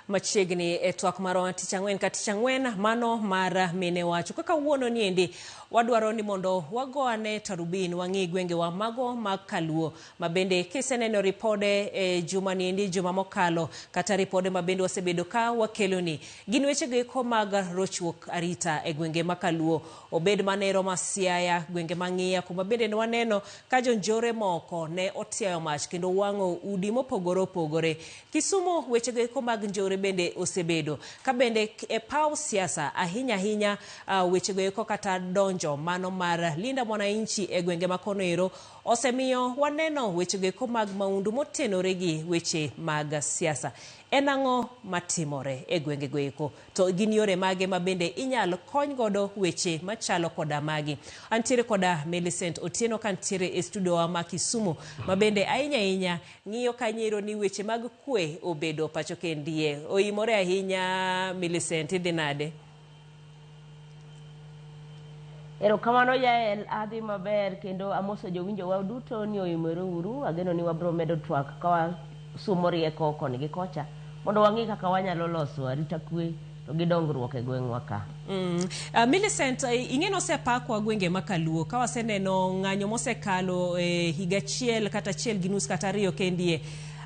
machiegni e twak marwa tich ang'wen ka tich ang'wen mano mar mine wacho kaka wuono ni endi wadwaro ni mondo wago ane tarubin wang'i gwengewa mago mag kaluo ma bende kiseneno ripode e juma niendi, juma mokalo, kata ripode ma bende wasebedo ka wakeloni, gin wechego eko mag rochruok arita e gwenge ma kaluo, obed mana e Roma Siaya, gwenge ma Ng'iya kuma bende ne waneno ka jonjore moko ne otiayo mach kendo wang'o udi mopogore opogore. Kisumo wechego eko mag njore bende osebedo. Ka bende e paw siasa ahinya ahinya wechego eko kata donjo mano mar Linda Mwananchi e gwenge ma kono ero Osemiyo waneno wechego eko mag maundu motenore gi weche mag siasa. En ang'o matimore e gwengego eko? To gin yore mage ma bende inyal kony godo weche machalo koda magi? Antiere koda Millicent Otieno kantiere e studiowa ma Kisumu ma bende ahinya ahinya ng'iyo kanyo ero ni weche mag kwe obedo pacho kendie. Oimore ahinya Millicent, idhi nade? Erokamano Yael, adhi maber kendo amoso jowinjowa duto ni oimore uru. Ageno ni wabiro medo twak ka wasumo rieko koni gi kocha mondo wang'e kaka wanyalo loso arita kwe to gi dongruok e gweng'wa ka. Mm. Uh, Millicent, eh, ing'e nosepakwa gwenge ma Kaluo ka waseneno ng'anyo mosekalo eh, higa achiel kata achiel gi nus kata ariyo kendie.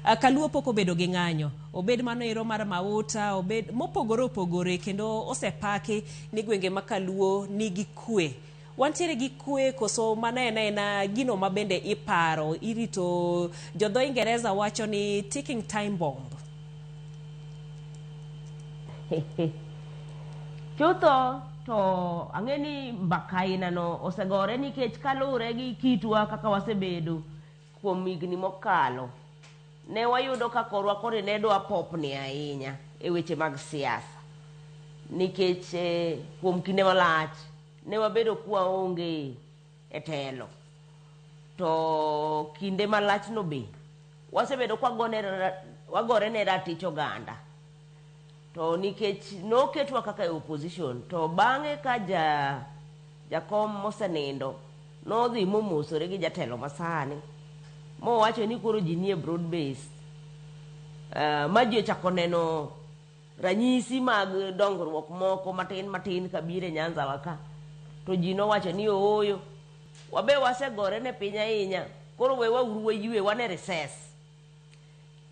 Uh, Kaluo pok obedo gi ng'anyo. obed mano ero mar mauta obed mopogore opogore kendo osepaki ni gwenge ma kaluo nigi kwe wantiere gi kwe koso mana en aena gino ma bende iparo irito jodho ingereza wacho ni ticking time bomb chutho to ang'e ni mbaka ainano osegore nikech kaluwore gi kitwa kaka wasebedo Kuom higni mokalo, ne wayudo ka korwa koni ne dwa popni ahinya e weche mag siasa nikech kuom kinde malach ne wabedo kwa onge e telo. To kinde malachno be, wasebedo kwa gone, wagore ne ratich oganda. To nikech noketwa kaka e opposition to bang'e ka ja jakom mosenindo nodhi momosore gi jatelo masani mowacho ni koro ji nie broad based uh, ma ji ochako neno ranyisi mag dongruok moko matin matin kabire Nyanza waka to ji nowacho ni ooyo wabe wasegore ne piny ahinya koro we wauru wayue wane recess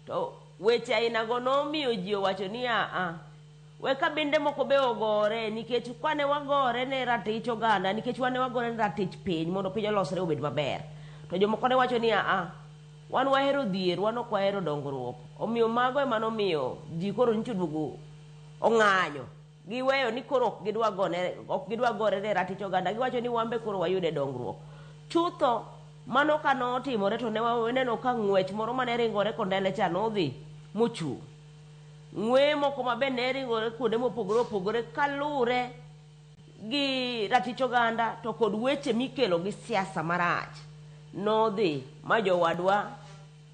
To weche ainago nomiyo ji owacho ni aa, we ka bende moko be ogore nikech kane wagore ne ratich oganda nikech wane wagore ne ratich piny mondo piny olosre obed maber. To jomoko ne wacho ni aa, wan wahero dhier wan ok wahero dongruok. Omiyo mago ema nomiyo ji koro nyicha oduogo ong'anyo. Giweyo ni koro ok gidwa gone, ok gidwa gore ne ratich oganda. Giwacho ni wan be koro wayude dongruok. Chutho, mano ka notimore to ne waneno ka ng'wech moro mane ringore kondele cha nodhi mochung'. Ng'weye moko ma be ne ringore kuonde mopogore opogore kalure gi ratich oganda to kod weche mikelo gi siasa marach nodhi ma jowadwa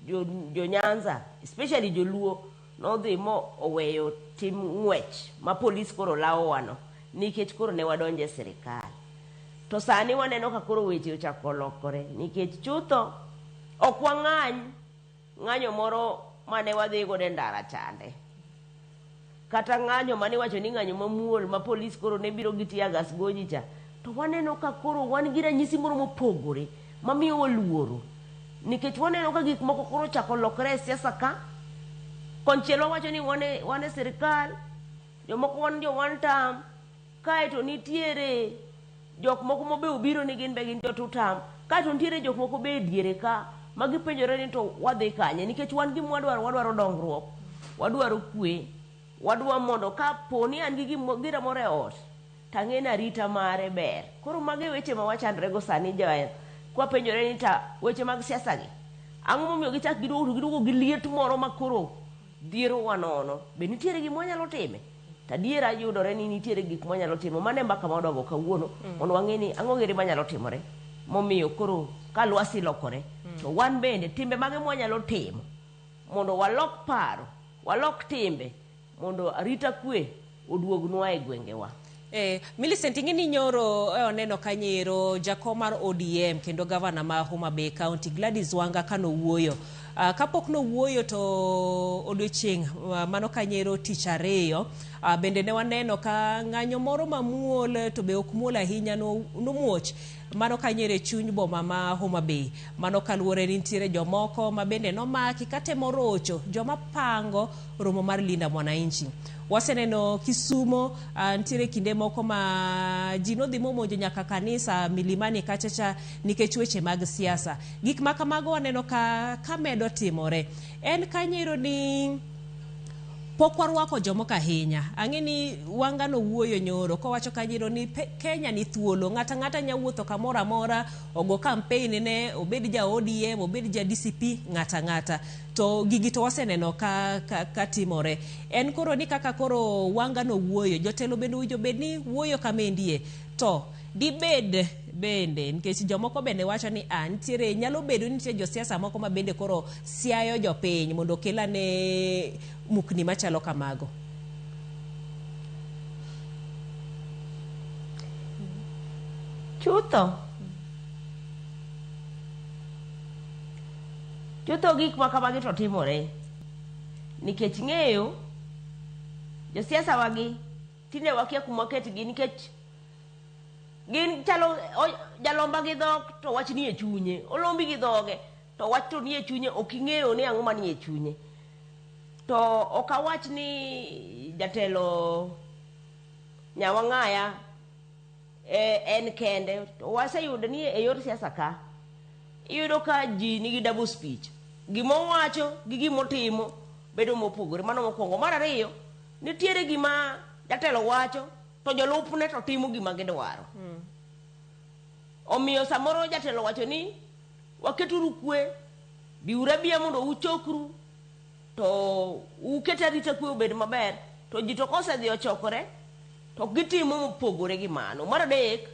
jo, jo Nyanza especially joluo Nodhi mo oweyo tim ng'wech ma polis koro lawowano nikech koro ne wadonjo e sirkal. To sani waneno ka koro weche ochako lokore nikech chutho ok wang'any ng'anyo moro ma ne wadhi godo e ndara chande, kata ng'anyo ma niwacho ni ng'anyo mamuol ma polis koro ne biro gi tear gas goji cha, To waneno ka koro wan gi ranyisi moro mopogore mamiyowa luoro nikech waneno ka gik moko koro chako lokre e siasa ka. Konchiel wawacho ni wan e, wan e sirkal, jomoko wan jo one term, kae to nitiere jok moko mabe obiro ni gin be gin jo two term, kae to nitiere jok moko be e diere ka ma gipenjore ni to wadhi kanye nikech wan gima wadwaro, wadwaro dongruok, wadwaro kwe, wadwa mondo ka po ni an gi gimoro e ot, To ang'eni arita mare ber. Koro mago e weche ma wachandre go sani jawer. Kwa penjore ni ta weche mag siasa gi. Ang'o momiyo gichak giduogo to giduogo gi liet moro ma koro dhiero wa nono. Be nitiere gima wanyalo time? To adiera yudore ni nitiere gik ma wanyalo timo. Mano e mbaka ma wadwa go kawuono. Mm. Mondo wang'e ni ang'o geri ma nyalo timore. Momiyo koro ka lwasi lokore. Mm. To wan bende timbe mage ma wanyalo timo mondo walok paro, walok timbe. mondo arita kwe oduognwa e gwengewa. Eh, Millicent ing'e ni nyoro eh, oneno kanyero jakom mar ODM kendo gavana ma Homa Bay County Gladys Wanga kano wuoyo uh, kapok no wuoyo to odiochieng uh, ah, mano kanyero tich ariyo uh, bende ne waneno ka ng'anyo moro mamuol to be ok muol ahinya no, no muoch Mano kanyere e chuny boma ma Homa Bay. Mano kaluwore ni nitiere jomoko ma bende nomaki katemo rocho joma pango romo mar Linda Mwananchi. Waseneno Kisumo, ah, nitiere kinde moko ma ji nodhi momonjo nyaka kanisa Milimani kachacha nikech weche mag siasa. Gik ma kamago waneno ka kamedo timore. En kanyero ni Pok warwako jomoko ahinya. Ang'e ni wanga nowuoyo nyoro kowacho kanyiro ni Kenya ni thuolo. Ng'ata ng'ata nya wuotho kamora mora, ogo kampein ne, obed ja ODM, obed ja DCP, ng'ata ng'ata. To gigi to waseneno ka, ka, ka timore. En koro ni kaka koro wanga nowuoyo, jotelo bende owinjo bed ni wuoyo kamendie. To Dibed bende nikech jomoko bende wacho ni a nitiere nyalo bedo ni nitie josiasa moko ma bende koro siayo jopiny mondo okel ane mukni machalo kamago. Chutho. Chutho gik ma kamagi to timore nikech ng'eyo josiasa wagi Tinde wakia kuma waketgi nikech gin chalo jalomba gi dhok to wach nie chunye, olombi gi dhoge to wach to nie chunye, ok ing'eyo ni ang'o manie chunye. To ok awach ni jatelo Nyawang'aya e, en kende, to waseyudo ni e yor siasa ka iyudo ka ji nigi double speech, gimowacho gi gimotimo bedo mopogore. Mano mokwongo. Mar ariyo Nitiere gima jatelo wacho to jolupne to timo gima gidwaro. Mm. Omiyo samoro jatelo wacho ni waketuru kwe, biuru abiya mondo uchokru to uket arita kwe obed maber to ji to kosedhi ochokore to gitimo mopogore gi mano. Mar adek,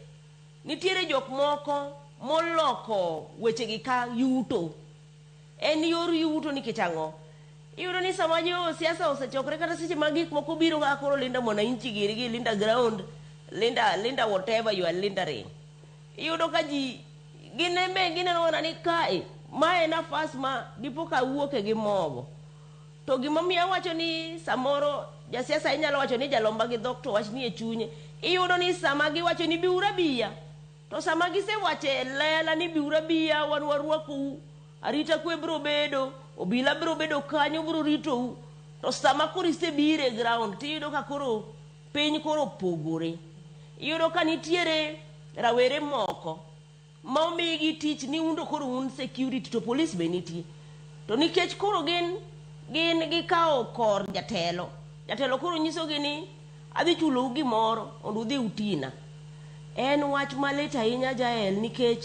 nitiere jok moko moloko wechegi ka yuto. En yor yuto nikech ang'o? Iyudo ni sama jo siasa osechokore kata seche ma gik moko biro kaka koro Linda Mwananchi giri gi Linda Ground, Linda, Linda whatever you are lindering. Iyudo ka ji gin embe gineno mana ni kae ma en nafas ma dipo ka awuoke gi mogo. To gimomiyo awacho ni samoro jasiasa inyalo wacho ni jalomba gi dhok to wach ni e chunye. Iyudo ni sama giwacho ni biuru abiya, To sama gisewacho e lela ni biuru abiya wan warwakou, arita kwe biro bedo, obila biro bedo kanyo biro ritou. To sama koro isebiro e ground tiyudo ka koro piny koro opogore. Iyudo ka nitiere rawere moko ma omigi tich ni un to koro un security to polis be nitie. To nikech koro gin gin gikawo kor jatelo, jatelo koro nyisogi ni Adhi chulou gimoro mondo udhi utina. En wach malit ahinya Jael nikech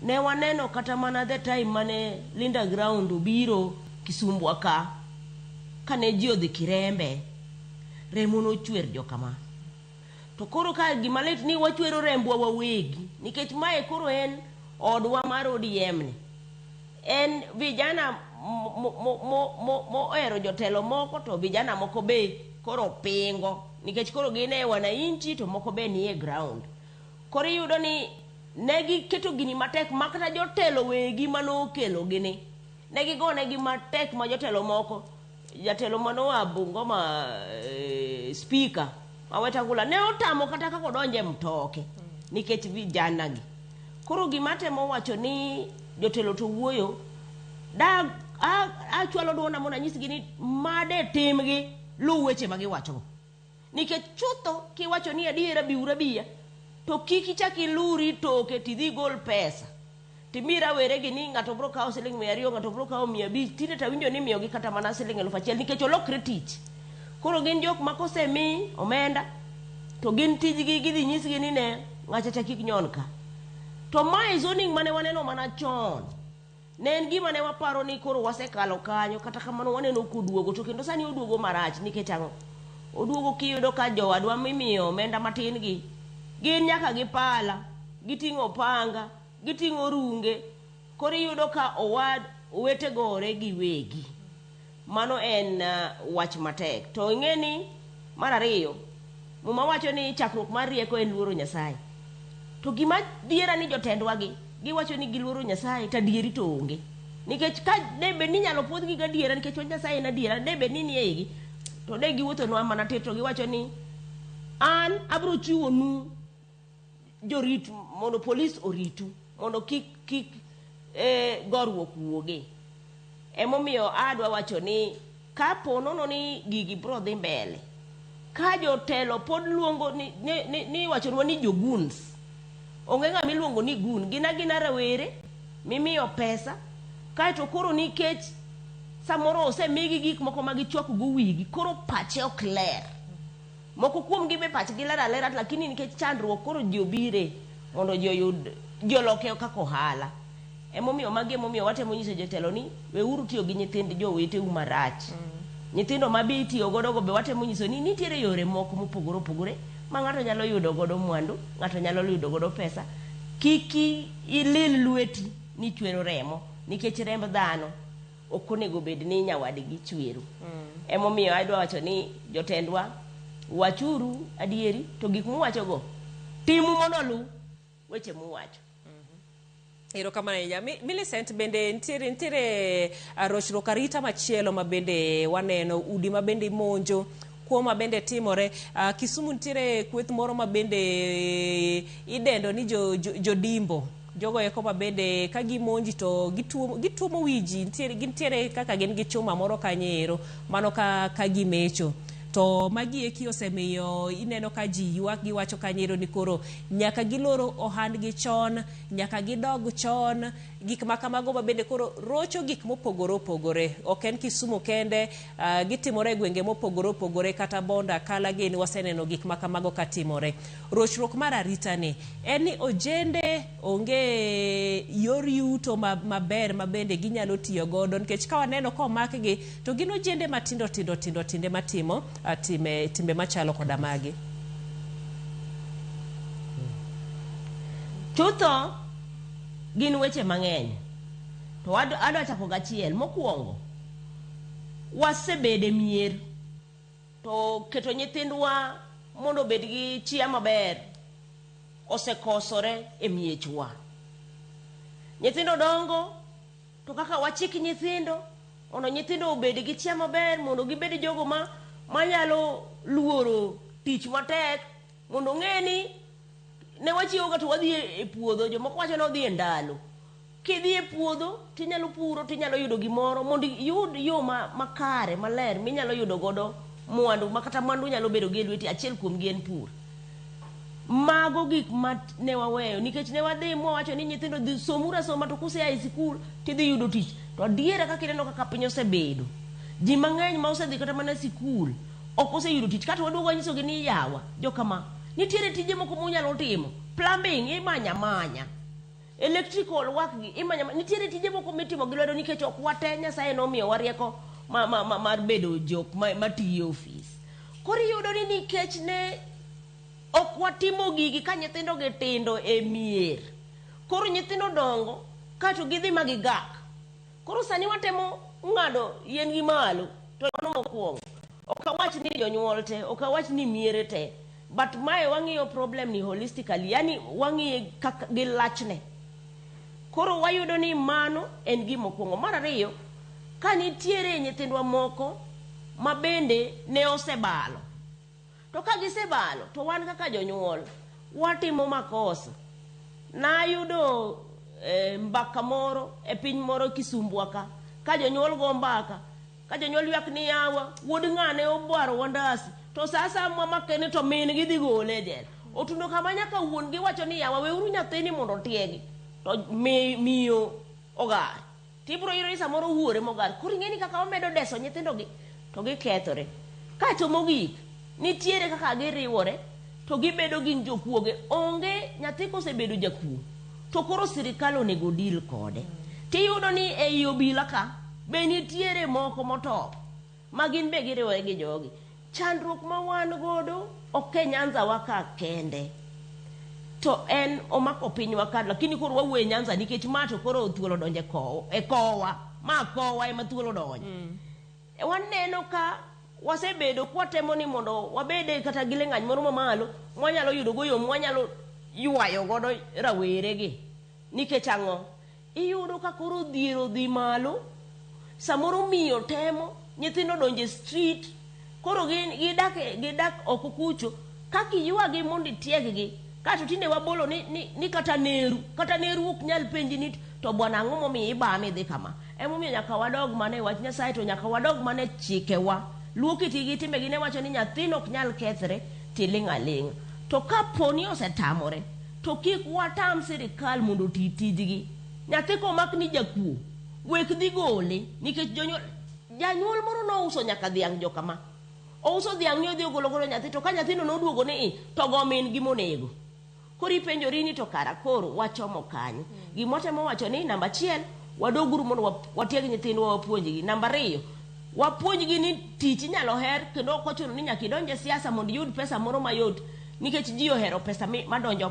ne waneno kata mana the time mane Linda Ground obiro Kisumbwa ka kane ji odhi Kirembe remo nochwer joka ma. To koro ka gima lit ni wachwero rembwa wawegi nikech mae koro en odwa mar ODM ni. En vijana mohero jotelo moko to vijana moko be koro pingo nikech koro gin e wananchi to moko be nie ground. Koro iyudo ni ne giketo gini matek makata jotelo wegi mane okelo gini ne gigone gi matek ma jotelo moko Jatelo mane oa Bungoma eh, speaker ma Wetangula ne otamo kata kaka odonje mtoke nikech vijana gi. Koro gima atemo wacho ni jotelo to wuoyo da a- achwalo dwonda mondo anyisgi ni made timgi luw weche ma giwachogo. nikech chutho kiwacho ni adiera biuru abiya to kik ichak iluri toke tidhi gol pesa timi raweregi ni ng'ato biro kawo siling mia ariyo ng'ato biro kawo mia abich tinde to awinjo ni imiyogi kata mana siling elufu achiel nikech olokre tich koro gin jok ma kosemi omenda to gin tijgi gidhi nyisgi ni ne ng'achacha kik nyon ka to mae zoning mane waneno mana chon Ne en gima ne waparo ni koro wasekalo kanyo, kata kamano waneno koduogo, to kendo sani oduogo marach nikech ang'o? Oduogo kiyudo ka jowadwa mimiyo omenda matin gi, gin nyaka gi pala, giting'o opanga, giting'o runge, koro iyudo ka owad, owete gore giwegi. Mano en wach matek. To ing'e ni mar ariyo, Muma wacho ni chakruok mar rieko en luoro Nyasaye. To gima dhiera ni jotendwagi giwacho ni giluoro Nyasaye to adieri to onge. Nikech ka de bed ni inyalo puodhgi gadiera nikech wach Nyasaye en adiera, de bed ni nie igi to de giwuothonwa mana tir to giwacho ni an abiro chiwonu jorit mondo polis oritu mondo kik kik eh, goruok wuoge emomiyo adwa wacho ni ka po nono ni gigi bro dhi mbele ka jotelo pod luongo ni, ni, ni, ni wachonwa ni joguns onge ng'ama iluongo ni gun gin agina rawere mimiyo pesa kaeto koro nikech samoro osemigi gik moko ma gichwakogo wigi koro pache ok ler Moko kuomgi be pachgi ler alera lakini nikech chandruok koro ji obire mondo ji oyud ji oloke kaka ohala. Emomiyo magi emomiyo watemo nyiso jotelo ni weuru tiyo gi nyithind joweteu marach. Nyithindo ma be itiyo godo go be watemo nyiso ni nitiere yore moko mopogore opogore ma ng'ato nyalo yudo godo mwandu, ng'ato nyalo yudo godo pesa. Kik ilil lweti ni ichwero remo nikech remb dhano. ok onego bed ni nyawadgi chweru emomiyo adwa wacho ni jotendwa wachuru adieri to gik muwachogo timu mondo oluw weche muwacho Erokamano ahinya. Mi- Millicent bende nitiere nitiere ah, rochruok arita machielo ma bende waneno udi ma bende imonjo kuo ma bende timore Ah, Kisumu nitiere kweth moro ma bende idendo ni jo- jo- jodimbo Jogo eko ma bende ka gimonji to gituomo, gituomo wiji, nitiere, gintiere kaka gin gi chuma moro kanye ero, mano ka, ka gimecho. To magi eki osemiyo ineno ka ji ywak giwacho kanye ero ni koro nyaka gilor ohandgi chon, nyaka gidog chon, gik ma kamago ma bende koro rocho gik mopogore opogore. Ok en Kisumu kende, ah, gitimore e gwenge mopogore opogore, kata Bondo, Akala gini waseneno gik ma kamago ka timore. Rochruok mar aritani en ni ojende onge yor yuto ma, maber ma bende ginyalo tiyo godo nikech ka waneno komakgi to gin ojende matindo tindo tindo tinde matimo uh, time, timbe machalo koda magi. Chutho gin weche mang'eny to adwa chako gachiel. Mokwongo, wasebede mier To keto nyithindwa mondo obed gi chia maber osekosore e miechwa. Nyithindo dongo to kaka wachik nyithindo mondo nyithindo obed gi chia maber mondo gibed jogo ma manyalo luoro tich matek mondo ong'e ni ne wachiewoga to wadhi e puodho jomoko wacho ni odhi e ndalo Kidhi e puodho to inyalo puro to inyalo yudo gimoro mondo iyud yo ma, makare, maler minyalo yudo godo mwandu ma kata mwandu nyalo bedo gi e lweti, achiel kuomgi en pur. Mago gik ma ne waweyo nikech ne wadhi mwawacho ni nyithindo dhi somuru asoma to kusea e sikul tidhi yudo tich. To adiera kaka ineno kaka piny osebedo, ji mang'eny ma osedhi kata mana sikul ok oseyudo tich. Kato waduogo wanyisogi ni yawa, jokama, nitiere tije moko munyalo timo, plumbing imanyo amanya. electrical work gi imanyo ma- nitiere tije moko mitimo gi lwedo nikech ok wate nyasaye nomiyo warieko ma, ma, ma, mar bedo jok ma, matiyo e ofis koro iyudo ni nikech ne ok watimo gigi ka nyithindo gi tindo e mier koro nyithindo dongo kato gidhi ma gigak Koro sani watemo ng'ado yien gi malo, to mano mokwongo. Ok awach ni jonyuol te, ok awach ni miere te, but mae wang'iyo problem ni holistically, yani wang'iye kaka gi lachne. Koro wayudo ni mano en gima okwongo. Mar ariyo, ka nitiere nyithindwa moko ma bende ne osebalo, To ka gisebalo to wan kaka jonyuol watimo makosa. Nayudo eh, mbaka moro e piny moro Kisumbwa ka ka jonyuol go mbaka ka jonyuol ywak ni yawa wuod ng'ane obwaro wandasi to sa asaya mamake ni to min gi dhi gole e jela. Otundo kama nyaka wuon gi wacho ni yawa weuru nyathini mondo otiegi to mi, miyo ogar. To ibiro yudo ni samoro owuore mogar. Koro ing'e ni kaka omedo deso nyithindogi to gikethore. Kaeto mogik, nitiere kaka giriwore to gibedo gin jokuoge. Onge nyathi kosebedo jakuo to koro sirikal onego deal kode. Tiyudo ni ei obila ka be nitiere moko motop. ma gin be giriwore gi jogi. Chandruok ma wan godo ok e Nyanza wa ka kende, to en omako pinywa ka, lakini koro wawuo e Nyanza nikech ma to koro thuol odonjo e kowo, e kowa. Ma kowa ema thuol odonjo. Mm. E, waneno ka wasebedo kwatemo ni mondo wabede kata gi ling'any moro mamalo mwanyalo yudo go yo mwanyalo ywayo godo rawere gi. Nikech ang'o? Iyudo ka koro dhier odhi malo, samoro miyo temo, nyithindo donjo e street, koro gin- gidak e- gidak oko kucho, kaka iywagi mondo itieggi. Kato tinde wabolo ni, ni, ni kata neru, kata neru ok nyal penji ni to bwana ang'o momiyo ibaa midhi kama. Emomiyo nyaka wadog mana e wach Nyasaye to nyaka wadog mana e chikewa. Luo kitgi gi timbegi ne wacho ni nyathino ok nyal kethre tiling' aling'. To kapo ni osetamore, To kik watam sirkal mondo oti tijgi. Nyathi komak ni jakuo, wek dhi gole nikech jonyuol. Janyuol moro nouso nyaka dhiang' jo kama. Ouso dhiang' ni odhi ogolo godo nyathi to ka nyathino noduogo ni i to ogo min gi monego. Koro ipenjori ni to kara koro wachomo kanye. Gima watemo wacho ni namba achiel wadog uru mondo watieg nyithindwa wapuonjgi. Namba ariyo, Wapuonjgi ni tich inyalo her kendo ok ochuno ni nyaka idonj e siasa mondo iyud pesa moro mayot nikech ji ohero pesa madonjo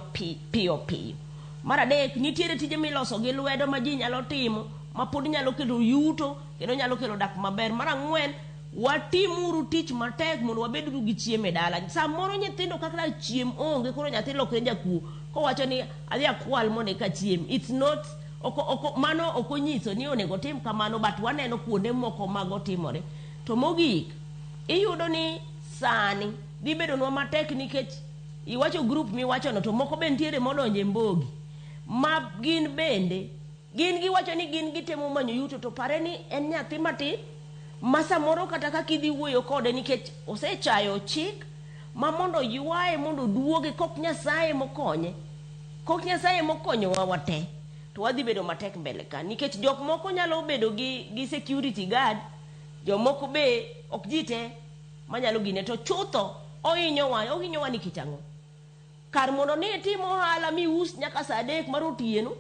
piyo piyo. Mar adek, nitiere tije miloso gi lwedo ma ji nyalo timo ma pod nyalo kelo yuto kendo nyalo kelo dak maber. Mar ang'wen, watimuru tich matek mondo wabeduru gi chiemo e dala. Samoro nyithindo kaka chiem onge koro nyathi lokre jakuo kowacho ni adhi akwal mondo eka achiem. It's not Ok, ok, mano ok onyiso ni onego otim kamano, but waneno kuonde moko mago timore. To mogik, iyudo ni sani dhi bedonwa matek nikech iwacho group miwachono to moko be nitiere modonjo e mbogi ma gin bende gin giwacho ni gin gitemo manyo yuto to pare ni en nyathi matin ma samoro kata kaka idhi wuoyo kode nikech osechayo chik ma mondo ywaye mondo oduoge kok nyasaye mokonye Kok Nyasaye ema okonyowa wate to wadhi bedo matek mbele ka nikech jok moko nyalo bedo gi, gi security guard jomoko be ok ji te manyalo gine to chutho ohinyowa ohinyowa nikech ang'o kar mondo ni itim ohala mius nyaka saa adek mar otieno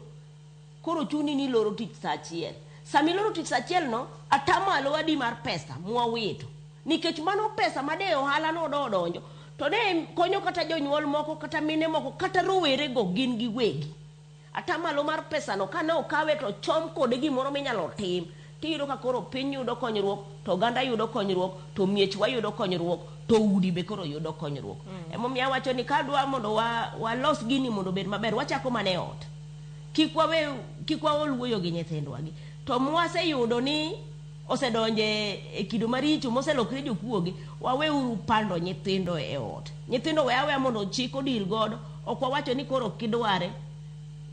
Koro chuni ni iloro tich saa achiel. Sama iloro tich saa achiel no, atamalo adi mar pesa mwawito? Nikech mano pesa ma de ohala no do odonjo, to de konyo kata jonyuol moko, kata mine moko, kata rowere go gin giwegi. Atamalo mar pesa no kane okawe to ochom kode gimoro minyalo tim. To iyudo ka koro piny yudo konyruok, to oganda yudo konyruok, to miechwa yudo konyruok, to udi be koro yudo konyruok. Emomiyo awacho ni ka dwa mondo wa, walos gini mondo obed maber, wachako mana e ot. Kik wawe, kik waol wuoyo gi nyithindwa gi. To mwaseyudo ni osedonje e kido maricho, moselokre jokuoge, waweuru pando nyithindo e ot. Nyithindo we aweya mondo chik odil godo, ok wawacho ni koro ok idware,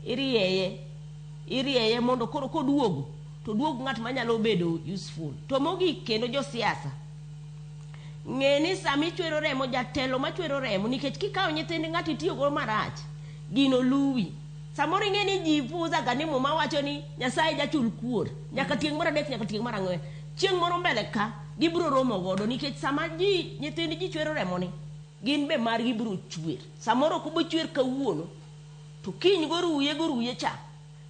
irieye. irieye mondo koro koduogo to duog ng'at manyalo bedo useful. To mogik kendo josiasa ng'e ni sama ichwero remo jatelo machwero remo nikech kikawo nyithind ng'ato itiyogo marach gino luwi samoro ing'e ni ji puozaga ni muma wacho ni nyasaye jachul kuor nyaka tieng' mar adek nyaka tieng' mar ang'wen chieng' moro mbele ka gibiro romo godo nikech sama ji nyithind ji chwero remoni gin be margi biro chwer samoro ok bochwer kawuono To kiny goruye goruye cha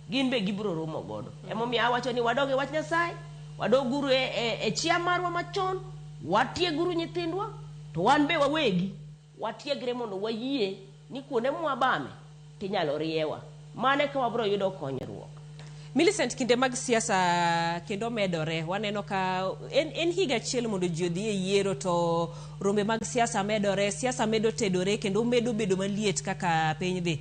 gin be gibiro romo godo. Mm. Emomiyo awacho ni wadog e wach Nyasaye, wadog uru e, e, e chia marwa machon, watieguru nyithindwa, to wan be wawegi watiegre mondo wayie ni kuonde mwabame tinyalo riewa. Mane ka wabiro yudo konyruok. Millicent, kinde mag siasa kendo medore, waneno ka en, en higa achiel mondo ji odhi e yiero to rombe mag siasa medore, siasa medo tedore kendo medo bedo maliet kaka piny dhi.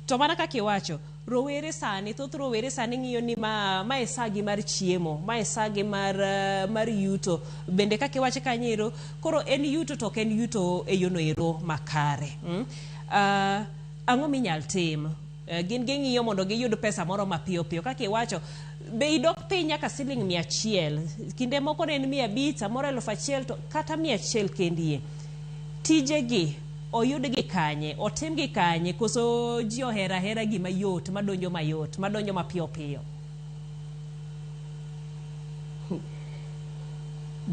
To mana kaka iwacho, rowere sani, thoth rowere sani ng'iyo ni ma, ma e sagi mar chiemo, ma e sagi mar, eh, mar yuto. Bende kaka iwacho kanyo ero, koro en yuto to ok en yuto e yono ero makare. Mm? Ah, ang'o minyal tim Eh, gin ging'iyo mondo giyud pesa moro mapiyo piyo kaka iwacho bei dok piny nyaka siling mia achiel kinde moko ne en mia abich samoro elfu achiel to kata mia achiel kendie tijegi oyudgi kanye otimgi kanye koso ji ohero ahera gima yot madonjo mayot madonjo mapiyo piyo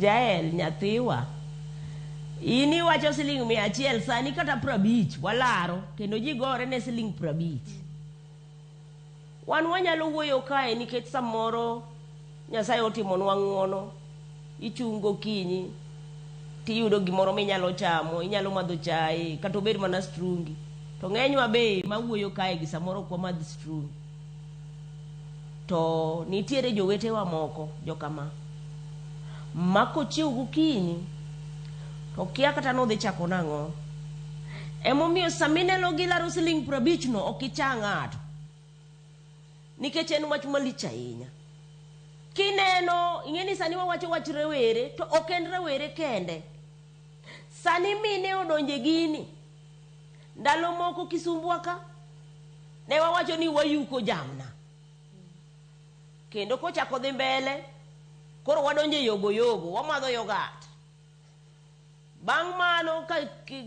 Jael nyathiwa in iwacho siling mia achiel sani kata prabich walaro kendo ji gore ne siling prabich wan wanyalo wuoyo kae nikech samoro nyasaye otimonwa ng'uono ichungo kinyi tiyudo gimoro minyalo chamo inyalo madho chae kata obed mana strungi to ng'enywa be mawuoyo kae gi samoro ok wamadh strungi To nitiere jowetewa moko jokama ma kochiew gokinyi to kia kata nodhi chako nang'o. Emomiyo sama ineno gi laro siling prabich no ok icha ng'ato. Nikech en wach malich ahinya. Kineno, ing'e ni sani wawacho wach rewere to ok en rewere kende. Sani mine odonje gini. Ndalo moko kisumbwa ka ne wawacho ni wayuko jamna kendo kochako dhi mbele koro wadonjo e yogo yogo wamadho yogat bang' mano ka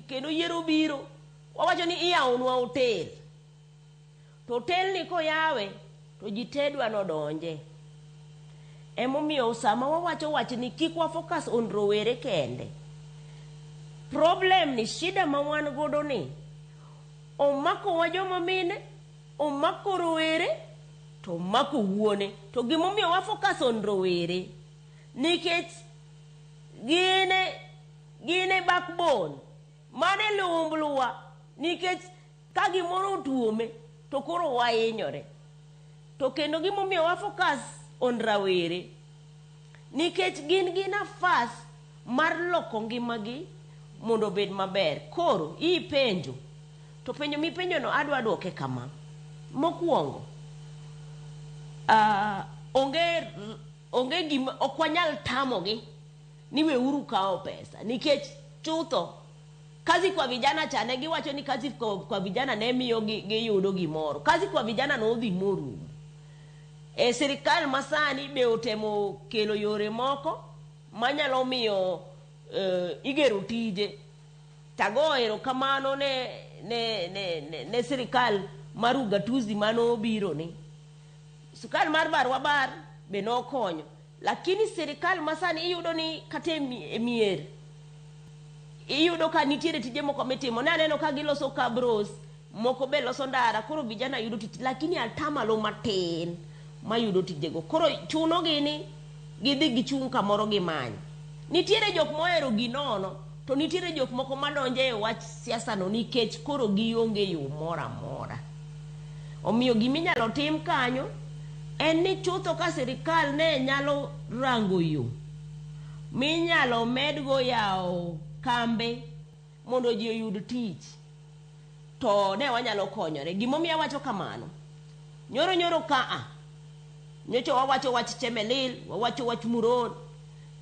kendo yiero biro wawacho ni iyawnwa otel To otelni koyawe to ji te dwa nodonje. Emomiyo sama wawacho wachni kik wa focus on rowere kende. Problem ni shida ma wan godo ni omako wa joma mine, omako rowere to omako wuone. To gimomiyo wa focus on rowere nikech gine gine backbone mane lumbluwa nikech Ka gimoro otuome to koro wahinyore. To kendo gimomiyo wa focus on rawere nikech gin gi nafas mar loko ngimagi mondo obed maber. Koro iyi penjo to penjo mipenjono adwa dwoke kama. Mokwongo, ah, onge onge gima ok wanyal tamogi ni weuru kawo pesa nikech chutho Kazi kwa vijana cha ne giwacho ni kazi kwa, kwa vijana ne miyo gi- giyudo gimoro. Kazi kwa vijana nodhi morumo. E sirikal masani be otemo kelo yore moko manyalo miyo eh, igero tije. Tago erokamano ne, ne, ne, ne, ne sirikal mar ugatuzi mane obironi. Sirikal mar barwa bar be nokonyo. Lakini sirikal masani iyudo ni kata e mier iyudo ka nitiere tije moko mitimo. Ne aneno ka giloso kabros, moko be loso ndara, koro vijana yudo tich, lakini atamalo matin mayudo tijego. Koro chunogi ni gidhi gichung' kamoro gimany. Nitiere jok mohero ginono. To nitiere jok moko madonjo e wach siasano nikech koro gionge yo moro amora. Omiyo gima inyalo tim kanyo en ni chutho ka sirikal ne nyalo rango yo minyalo medgo yawo kambe mondo ji oyud tich. to ne wanyalo konyore. Gimomiyo awacho kamano, nyoro nyoro kaa, nyocha wawacho wach Chemelil, wawacho wach Muron,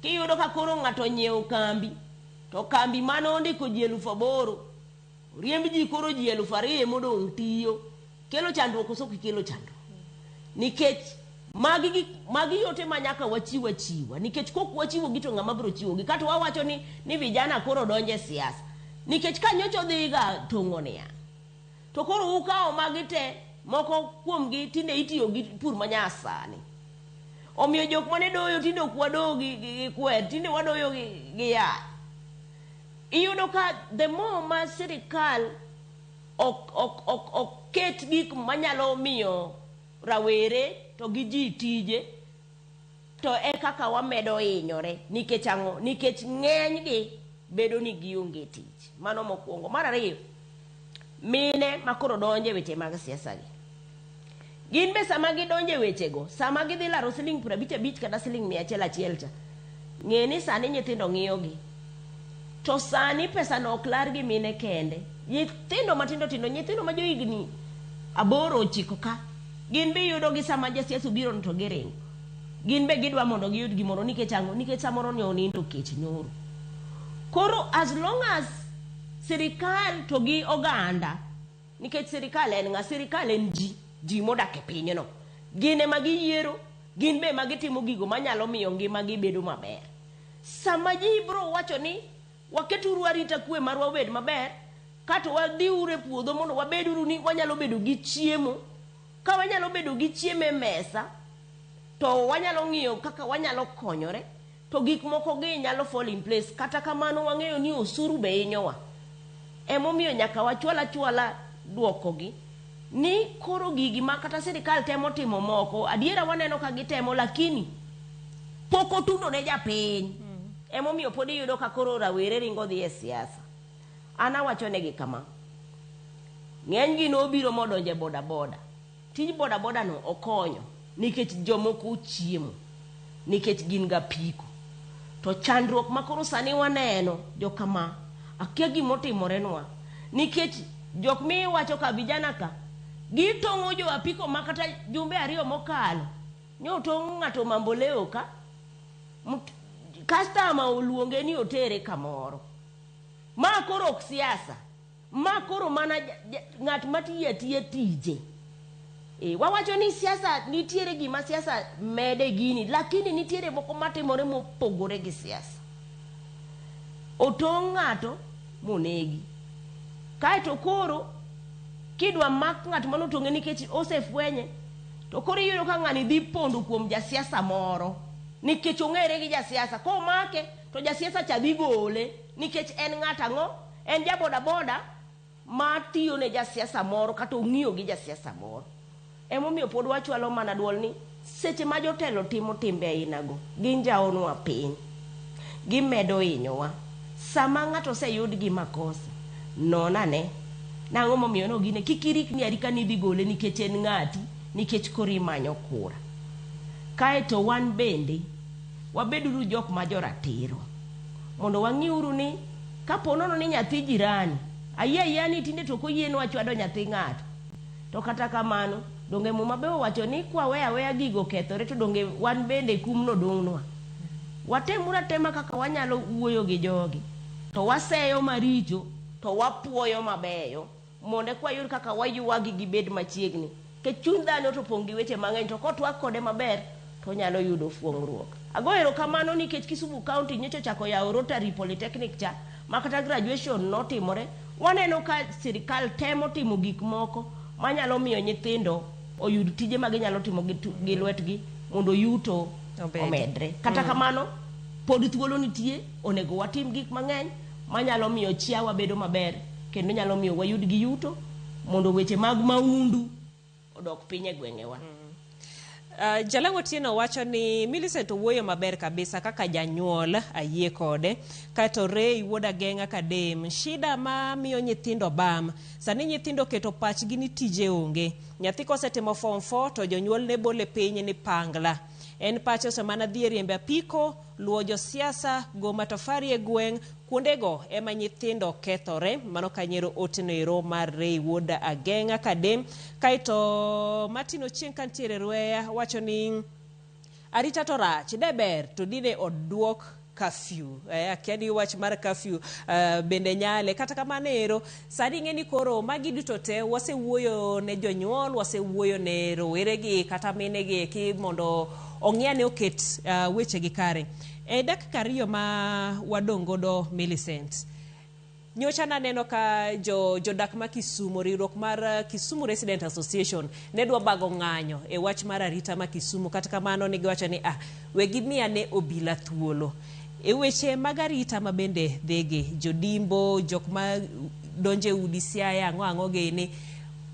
kiyudo ka koro ng'ato onyiewo kambi, to kambi mane ondiko ji elufu aboro, riemb ji koro ji elufu ariyo emodong' tiyo. Kelo chandruok koso ok ikelo chandruok? Nikech magi gik magi yote ma nyaka wachiw achiwa nikech kok wachiwo gi to ng'ama biro chiwo gi kato wawacho ni ni vijana koro donje siasa nikech ka nyocha odhi ga tong'o niya to koro ukawo magi te moko kuom gi tinde itiyo gi pur ma nyasani omiyo jok mane doyo tinde ok wadoyo gi, gi, gi kwer tinde wadoyo gi, gi yath iyudo ka the more ma sirikal Ok, ok, ok, ok ket gik manyalo miyo rawere to gi ji tije, to e kaka wamedo hinyore. Nikech ang'o? Nikech ng'enygi bedo ni gionge tich. Mano mokwongo. Mar ariyo, mine makoro donjo e weche mag siasa gi. Gin be sama gidonjo e wechego, sama gidhi laro siling' piero abich abich kata siling' mia achiel achiel cha, ng'e ni sani nyithindo ng'iyogi. To sani pesano ok lar gi mine kende. Nyithindo matindo tindo, nyithindo ma johigni aboro ochiko ka, gin be iyudogi sama jasiasa obirono to giringo. Gin be gidwa mondo giyud gimoro nikech ang'o? Nikech samoro ne onindo kech nyoro. Koro as long as sirikal to gi oganda Nikech sirkal en ng'a? Sirkal en ji, ji modak e pinyno. Gin ema giyiero, gin be ema gitimo gigo manyalo miyo ngimagi bedo maber. Sama ji biro wacho ni waketuru arita kwe marwa obed maber, kato wadhiuru e puodho mondo wabeduru ni wanyalo bedo gi chiemo, ka wanyalo bedo gi chiemo e mesa, to wanyalo ng'iyo kaka wanyalo konyore, To gik moko gi nyalo fall in place kata kamano wang'eyo ni osuru be hinyowa emomiyo nyaka wachwal achwala duokogi ni koro gigi ma kata sirikal temo timo moko adiera waneno ka gitemo lakini pok otudo ne japiny emomiyo pod iyudo ka koro rawere ringo dhi e siasa. An awachonegi kama, ng'enygi nobiro modonjo e bodaboda. Tij boda boda no okonyo nikech jomoko ochiemo nikech gin ga piko. To chandruok ma koro sani waneno jokama akia gima otimorenwa nikech jok miwacho ka vijana ka gitong'o jo apiko ma kata jumbe ariyo mokalo nyo otong' ng'ato mamboleo ka customer oluonge ni otere kamoro. Ma koro ok siasa. Ma koro mana ng'at matiyo atiya tije. E, wawacho ni siasa nitiere gima siasa mede gini, lakini nitiere moko matimore mopogore gi siasa. Otong' ng'ato monegi. Kaeto koro kidwa mak ng'at mano otong'e nikech osefwenye, to koro iyudo ka ng'ani dhi pondo kuom jasiasa moro nikech ong'ere gi jasiasa. Komake to jasiasa cha dhi gole nikech en ng'at ang'o? En ja boda boda ma tiyo ne jasiasa moro kata ong'iyo gi jasiasa moro. Emomiyo pod wachwalo mana duol ni seche ma jotelo timo timbe ainago ginjaonwa piny, gimedo hinyowa. Sama ng'ato oseyud gi makosa, non ane ni ang'o momiyo nogine. Kik irikni arika ni idhi gole nikech en ng'ati, nikech koro imanyo kura. Kae to wan bende wabeduru jok ma joratiro. mondo wang'iuru ni ka po nono ni nyathi jirani, ayie ayia ni tinde to ok oyienwa chwado nyathi ng'ato. To kata kamano, donge Muma be owacho ni kwaweyo aweya gigo okethore to donge wan bende kumno dung'nwa? Watemuru atema kaka wanyalo wuoyo gi jogi, to waseyo maricho to wapwoyo mabeyo. Mondo eka wayud kaka waywagi gibed machiegni. Nikech chuny dhano to opong' gi weche mang'eny to kotwak kode maber to onyalo yudo fuong'ruok. Agoyo erokamano nikech Kisumu County nyocha ochako yawo Rotary Polytechnic cha ma kata graduation notimore. Waneno ka sirkal temo timo gik moko manyalo miyo nyithindo oyud tije ma ginyalo timo gi lwetgi mondo yuto omedre. Kata kamano pod thuolo nitie, onego watim gik mang'eny. manyalo miyo chiawa bedo maber kendo nyalo miyo wayud gi yuto mondo weche mag maundu odok piny e gwengewa. Mm. Uh, Jalango Tieno wacho ni Millicent owuoyo maber kabisa kaka janyuol ayie kode kato Ray wuod ageng'a kadem shida ma miyo nyithindo bam sani nyithindo keto pachgi ni tije onge nyathi kosetimo form 4 to jonyuol ne bole piny ni pangla en pache osemana dhi e riembe apiko luwo josiasa, go matofari e gweng', kuondego ema nyithindo kethore. Mano kanyero oteno ero mar Rei wuod Ageng'a kade. Kaeto Martin Ochieng' kantiere Rweya wacho ni arita to rach, de ber to dine odwok kafyu. Eh, akia ni wach mar kafyu uh, bende nyale. Kata kamano ero Sani ing'e ni koro magi duto te wasewuoyo ne jonyuol, wasewuoyo ne roweregi kata minegi eki mondo ong'i ane oket ah, wechegi kare. E dakika ariyo ma wadong' godo Millicent, nyocha naneno ka jo, jodak ma Kisumo, riwruok mar eh, Kisumu Resident Association ne dwa bago ng'anyo e wach mar arita ma Kisumu, kata kamano ne giwacho ni ah, we gimi ane obila thuolo. E weche mag arita ma bende dhigi, jodimbo, jok ma donjo e udi siaya ang'o ang'o gini,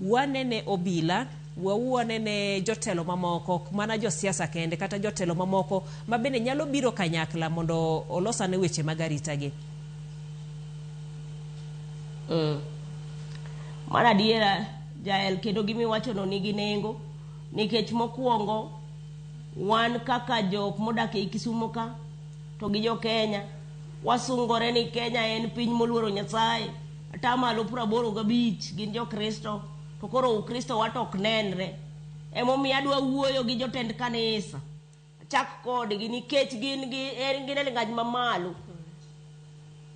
wanene obila, wanene jotelo mamoko, ok mana josiasa kende kata jotelo mamoko ma bende nyalo biro kanyakla mondo olos ane weche mag arita gi. Mm. Mar adiera Jael kendo gimiwachono nigi nengo nikech mokwongo Wan kaka jok modak ei Kisumo ka to gi jo Kenya wasungore ni Kenya en piny moluoro Nyasaye. Atamalo praboro gabich gin jo Kristo to koro Ukristo wa to ok nenre. Emomiyo adwa wuoyo gi jotend kanisa. Achak kodgi nikech gin gi en gin e ng'any mamalo.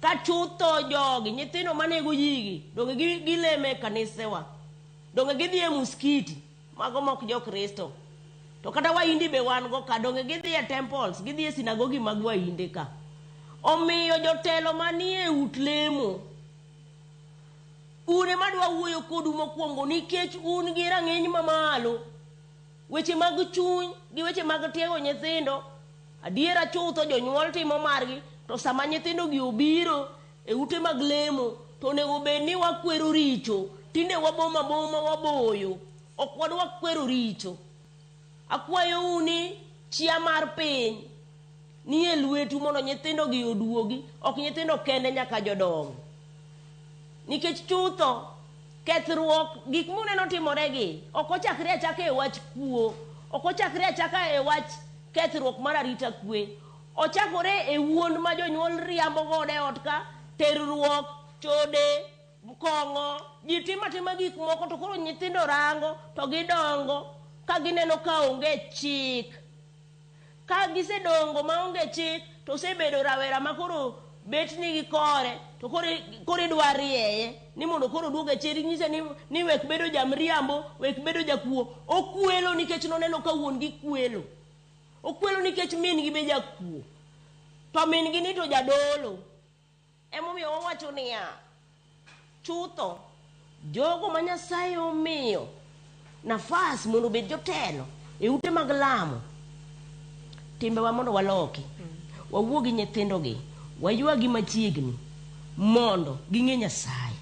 Ka chutho jogi nyithindo manego jigi donge gi gileme kanisewa. Donge gidhi e muskiti. Mago mok jo Kristo. To kata waindi be wan go ka donge gidhi e temples, gidhi e sinagogi mag wainde ka. Omiyo jotelo manie ut lemo un ema dwa wuoyo kodu mokwongo nikech un gi rang'iny mamalo. Weche mag chuny gi weche mag tiego nyithindo, adiera chutho jonyuol timo margi to sama nyithindogi obiro E ute mag lemo to onego bed ni wakwero richo, tinde waboma aboma, waboyo, ok wadwa kwero richo. Akwayou ni chia mar piny nie lwetu mondo nyithindogi oduogi, ok nyithindo kende nyaka jodongo. Nikech chutho kethruok gik muneno timoregi ok ochakre achaka e wach kuo, ok ochakre achaka e wach kethruok mar arita kwe, Ochakore e wuond ma jonyuol riambo godo e ot ka, terruok, chode, kong'o, ji timo atima gik moko to koro nyithindo rango to gidongo ka gineno ka onge chik. Ka gisedongo ma onge chik to osebedo rawera ma koro bet ni gikore to koro koro idwa rieye ni mondo koro oduog e chir inyise ni, ni wek bedo jamriambo, wek bedo jakuo. Okwelo nikech noneno ka wuon gi kwelo. Okwelo nikech min gi be jakuo. To min gi ni to jadolo. Emomiyo wawacho niya, chutho jogo ma Nyasaye omiyo nafas mondo obed jotelo e ute mag lamo, timbewa mondo waloki, wawuo gi nyithindogi, waywagi machiegni mondo ging'e Nyasaye.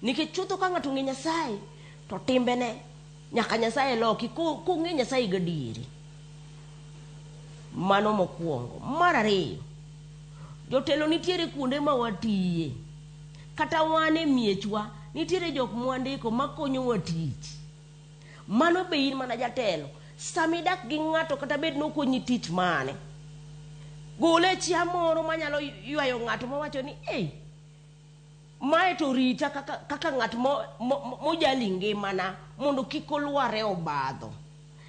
Nikech chutho ka ng'ato ng'e Nyasaye to timbene nyaka Nyasaye loki kong'e Nyasaye gadieri. Mano mokwongo. Mar ariyo, jotelo nitiere kuonde ma watiye kata wan e miechwa nitiere jok mwandiko makonyowa tich. Mano be in mana jatelo. Sama idak gi ng'ato kata bed nokonyi tich mane, gole chia moro manyalo ywayo ng'ato mawacho ni ei Mae to orita kaka, kaka ng'at mo, mo, mo- mojali ngimana mondo kik olwar e obadho.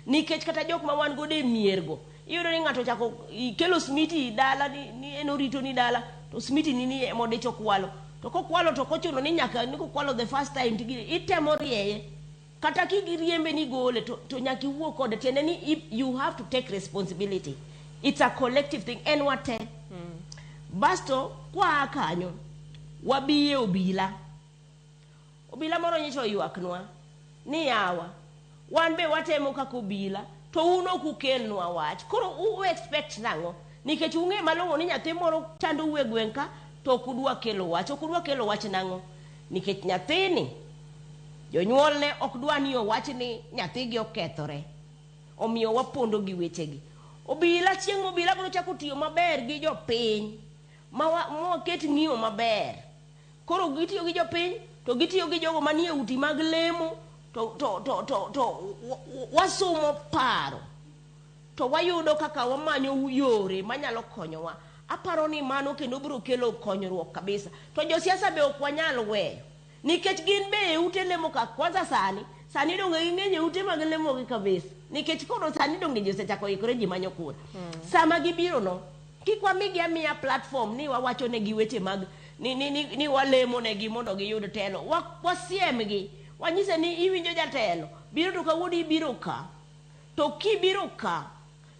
Nikech kata jok ma wan godo e miergo, iyudo ni ng'ato chako ikelo smiti dala ni, ni en orito ni dala, to smiti ni ni ema odich okwalo. To kokwalo to ok ochuno ni nyaka ni kokwalo the first time to itemo rieye. Kata kigiriembe ni gole to, to nyaka iwuo kode tiende ni if you have to take responsibility. It's a collective thing en wate. Mm. Basto kwa kanyo wabiye obila. Obila moro nyicho oywaknwa ni yawa wan be watemo kaka obila to un ok ukelnwa wach. Koro u expect nang'o? Nikech ung'e malong'o ni nyathi moro chando uwe gweng' ka to ok udwa kelo wach. Ok udwa kelo wach nang'o? Nikech nyathini, jonyuolne ok dwa ni owach ni nyathigi okethore, omiyo wapondo gi wechegi. Obila chieng' mobila biro chako tiyo maber gi jopiny ma waket ng'iyo maber. Koro gitiyo gi jopiny to gitiyo gi jogo manie uti mag lemo to, to, to, to, to wasumo paro to wayudo kaka wamanyo yore manyalo konyowa. Aparo ni mano kendo biro kelo konyruok kabisa. To josiasa be ok wanyal weyo nikech gin be e ute lemo ka kwanza sani sani donge ging'eny e ute mag lemo gi kabisa nikech koro sani donge ji osechako ikore ji manyo kura. Mm. Sama gibiro no kik wamigi amiya platform ni wawacho ne gi weche mag ni, ni, ni, ni walemo ne gi mondo giyud telo. Wasiemgi wanyise ni iwinjo jatelo biro to kawuono ibiro ka To kibiro ka,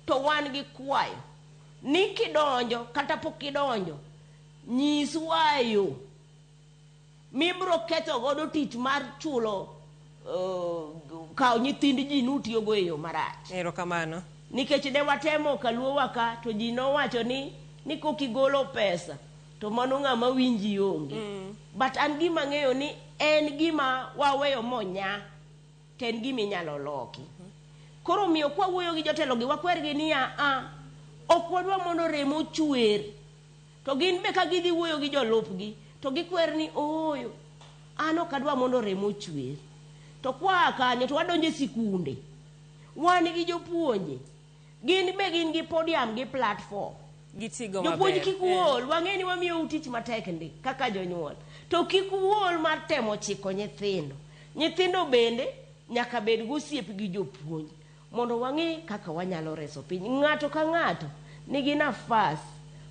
to wan gi kwayo ni kidonjo kata pok idonjo, nyiswa yo mibiro ketho godo tich mar chulo uh, kawo nyithind ji nutiyogo e yo marach. Erokamano. Nikech ne watemo kaluowa ka to ji nowacho ni ni kok igolo pesa to mano ng'ama winji onge. Mm. But an gima ng'eyo ni en gima waweyo monya. to en gima inyalo loki. Koro omiyo kwawuoyo gi jotelogi wakwergi ni aa, ok wadwa mondo remo ochwer. To gin be ka gidhi wuoyo gi jolupgi to gikwer ni ooyo, an ok adwa mondo remo ochwer. To kwaa kanyo to wadonjo e sikunde, wan gi jopuonje. Gin be gin gi podium gi platform. Gitigo maber. Jopuonj kik eh. uol, wang'e ni wamiyou tich matek ndi kaka jonyuol. To kik uol mar temo chiko nyithindo. Nyithindo bende nyaka bed gosiep gi jopuonj mondo wang'e kaka wanyalo reso piny. Ng'ato ka ng'ato nigi nafas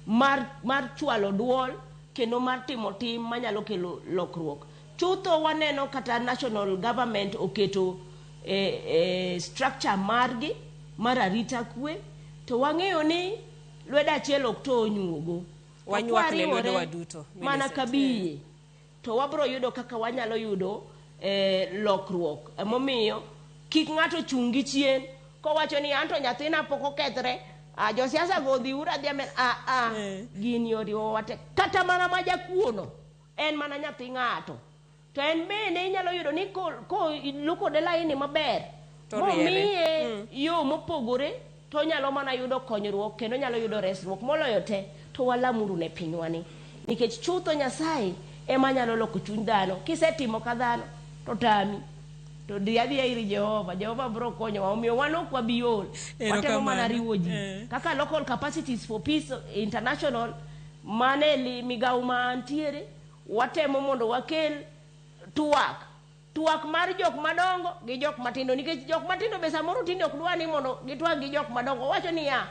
mar, mar chwalo duol kendo mar timo tim manyalo kelo lokruok. Chutho waneno kata national government oketo e, e, structure margi mar arita kwe to wang'eyo ni lwedo achiel ok to onyuogo To Wanywak ne kwariwore lwedowa duto, mana Millicent. kabiye to wabiro yudo kaka wanyalo yudo eh, lokruok emomiyo kik ng'ato chung' gi chien kowacho ni anto nyathina pok okethre ah, josiasa go odhiura dhi amen ah, ah. Eh. gini oriwowa te kata mana ma jakuono En mana nyathi ng'ato. To en bende inyalo yudo ni ko, ko lukode laini maber, To riere. momiye yo mopogore, to onyalo mana yudo konyruok kendo onyalo yudo resruok. Moloyo te, to walamuru ne pinywani. Nikech chutho Nyasaye ema nyalo loko chuny dhano. Kisetimo ka dhano, to tami. To dhi adhiya ir Jehova. Jehova biro konyowa. Omiyo wan ok wabi ol. Watemo mana Erokamano. riwo ji. Eh. Kaka Local Capacities for Peace International Mano e li migawo ma antiere. Watemo mondo wakel twak, twak mar jok madongo gi jok matindo nikech jok matindo be samoro tinde ok dwa ni mondo gitwag gi jok madongo. Owacho niya,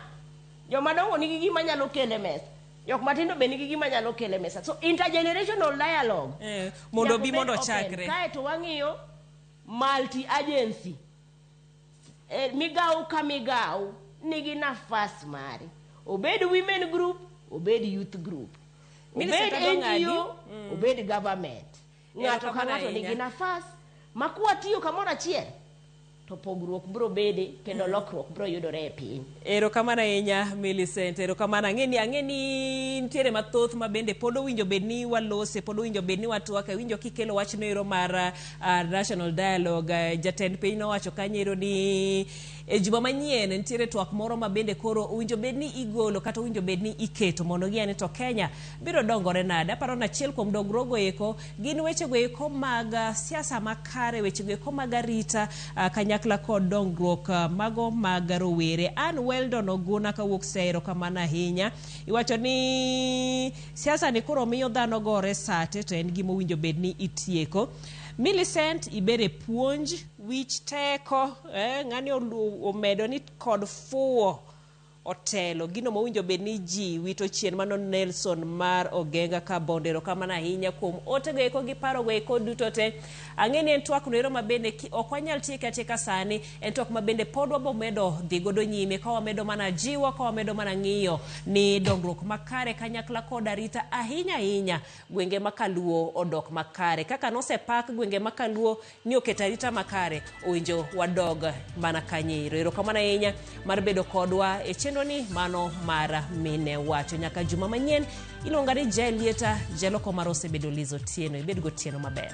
joma dongo nigi gima nyalo kelo e mesa, jok matindo be nigi gima nyalo kelo e mesa. So intergenerational dialogue Eh, mondo nyaka obi obed mondo open. ochakre. Kae to wang'iyo multi agency. e, migawo ka migawo nigi nafas mare obed women group obed youth group Minister obed Tado Ng'adi. ngo obed government ng'ato ka Erokamano ng'ato ahinya. nigi nafas ma kwatiyo kamoro achiel to pogruok biro bede kendo lokruok biro yudore e piny Erokamano ahinya Millicent. Erokamano. Ang'e ni ang'e ni nitiere mathoth ma bende pod owinjo bed ni walose, pod owinjo bed ni watwake. Awinjo kikelo wach no ero mar uh, National Dialogue. Uh, jatend piny nowacho kanyo ero ni e juma manyien nitiere twak moro ma bende koro owinjo bed ni igolo kata owinjo bed ni iketo mondo giyane to Kenya biro dongore nade. Aparo ni achiel kuom dongruogo eko Gin wechego eko mag ah, siasa makare, wechego eko mag arita ah, kanyakla kod dongruok ah, mago mag rowere. An Weldon Oguna kawuok Siaya, erokamano ahinya. Iwacho ni siasa ni koro miyo dhano gore sate to en gima owinjo bed ni itieko. Millicent Ibere puonj wich teko eh, ng'ani olu- omedo ni kod fuwo Otelo. Gino mowinjo bed ni ji wito chien mano Nelson mar Ogenga ka Bondo. Erokamano ahinya kuom ote go eko gi paro go eko duto te. Ang'e ni en twak no ero ma bende ok wanyal tieke atieka sani. En twak ma bende pod wabo medo dhi godo nyime ka wamedo mana jiwo ka wamedo mana ng'iyo ni dongruok makare kanyakla kod arita ahinya ahinya gwenge makaluo odok makare. Kaka nosepak gwenge makaluo ni oket arita makare owinjo wadog mana kanyeiro erokamano ahinya mar bedo kodwa e chenro ni mano mar mine wacho nyaka juma manyien iluonga ni jaelieta jaloko mar osebedo lizo tieno ibed gotieno maber